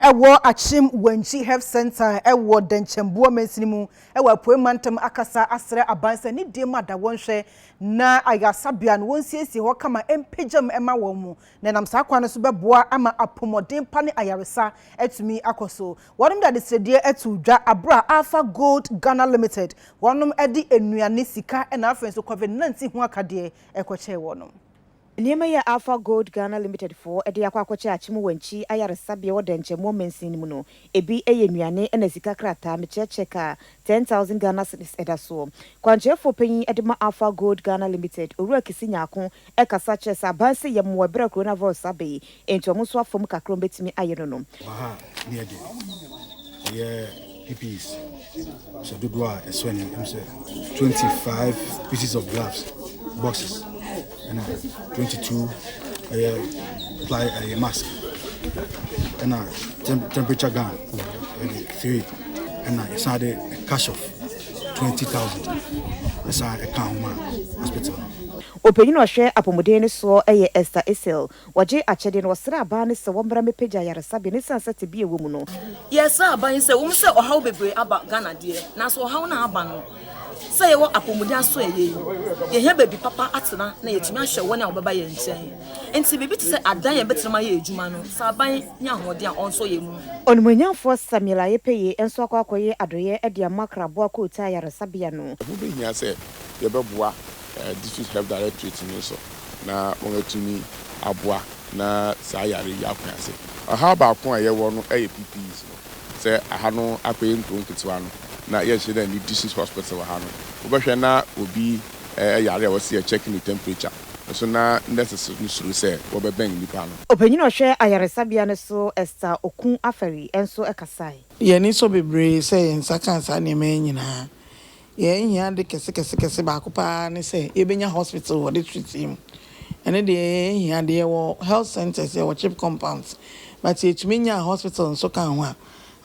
Ɛwɔ Akyem Wanchi Health Centre a ɛwɔ Dɛnkyɛmboa Mansini mu wɔ Apuei Mantam akasa asrɛ aban sɛ ne deɛ mu ada wɔn hwɛ na ayarsabea no wɔnsiesie hɔ kama mpagya mu ma wɔn na ɛnam saa kwan no so bɛboa ama apomɔden pa ne ayaresa atumi akɔ so. Wɔnom de adesrɛdeɛ ato dwa aberɛ a Alpha Gold Ghana Limited wɔnom de nnuane, sika na afei nso Covid 19 ho akadeɛ rekɔkyɛɛ wɔnom. Nneɛma yi a Alpha Gold Ghana Limited foɔ de akɔ akɔkyɛ Akyem Wankyi Ayaresabea wɔ Dɛnkyɛmmoɔ mansin no mu no, ebi yɛ nnuane ɛna sika krataa, mekyɛ cheque a ten thousand Ghana cedis ɛda soɔ. Kwankyerɛfoɔ panyin de ma Alpha Gold Ghana Limited, Owura Kisi Nyarko kasa kyerɛ sɛ aban sɛ yɛmmoa ɛberɛ a Coronavirus aba yi, Enti ɔmo nso afam kakra ɔmo bɛtumi ayɛ no no. Baha neɛ de ɛyɛ pieces hyɛ dodoɔ a ɛsɔ ani ɛmu sɛ 25 pieces of gloves boxes ɛna 22 ɛyɛ ply ɛyɛ mask ɛna temperature gun ɛde 3 ɛna ɛsan de cash of 20000 ɛsan ɛka ho ma hospital. Ɔpanyin a ɔhwɛ apɔmuden no soɔ yɛ Esther Isel. Wɔgyee akyɛde no, wɔsrɛɛ aban no sɛ wɔmmra mmɛpagya ayaresabea no ɛsiane sɛ tebea a ɛwɔ mu no, Yɛsrɛ aban yi sɛ ɛwɔ mu sɛ ɔhaw bebree aba Ghana deɛ, nanso ɔhaw no a aba no, sɛ yɛwɔ apɔmuden aso ɛyɛ yi, yɛhia baabi papa atena na yɛatumi ahwɛ wɔn a wɔbɛba yɛn nkyɛn. Enti biribi te sɛ adan a yɛbɛtenam ayɛ adwuma no, sɛ aban nya ahoɔden a ɔnsɔ yɛn mu. Onimuonyamfoɔ Samuel Ayepeye nso akɔ akɔyɛ adɔeɛ de ama Kraboa Kootaa Ayaresabea no. Ɛho bɛhia sɛ yɛbɛboa District Health Directorate no so na wɔatumi aboa na saa yare yi ako ase. Ɔhaw baako a yɛwɔ no yɛ PPEs no. Sɛ aha no akɔyɛ nkuro nketewa no na yɛnhyɛ da nni District Hospital wɔ ha no, wobɛhwɛ na obi yare a wɔse yɛ check ne temperature nso na nurses no suro sɛ wɔbɛbɛn nipa no. Ɔpanyin a ɔhwɛ ayaresabea no so Esther Oku Afari nso kasae. Yɛn ani sɔ bebree sɛ yɛn nsa kaa saa nneɛma yi nyinaa. Yɛn hia ade kɛse kɛse kɛse baako paa ne sɛ yɛbɛnya hospital wɔ district yi mu. Ɛno deɛ yɛn hia deɛ yɛwɔ health centers, yɛwɔ chip compounds but yɛtumi nyaa hospital nso kaa ho a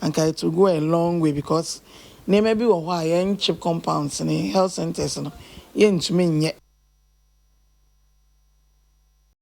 anka it will go a long way because nneɛma bi wɔ hɔ a yɛn chip compounds ne health centers no yɛntumi nyɛ.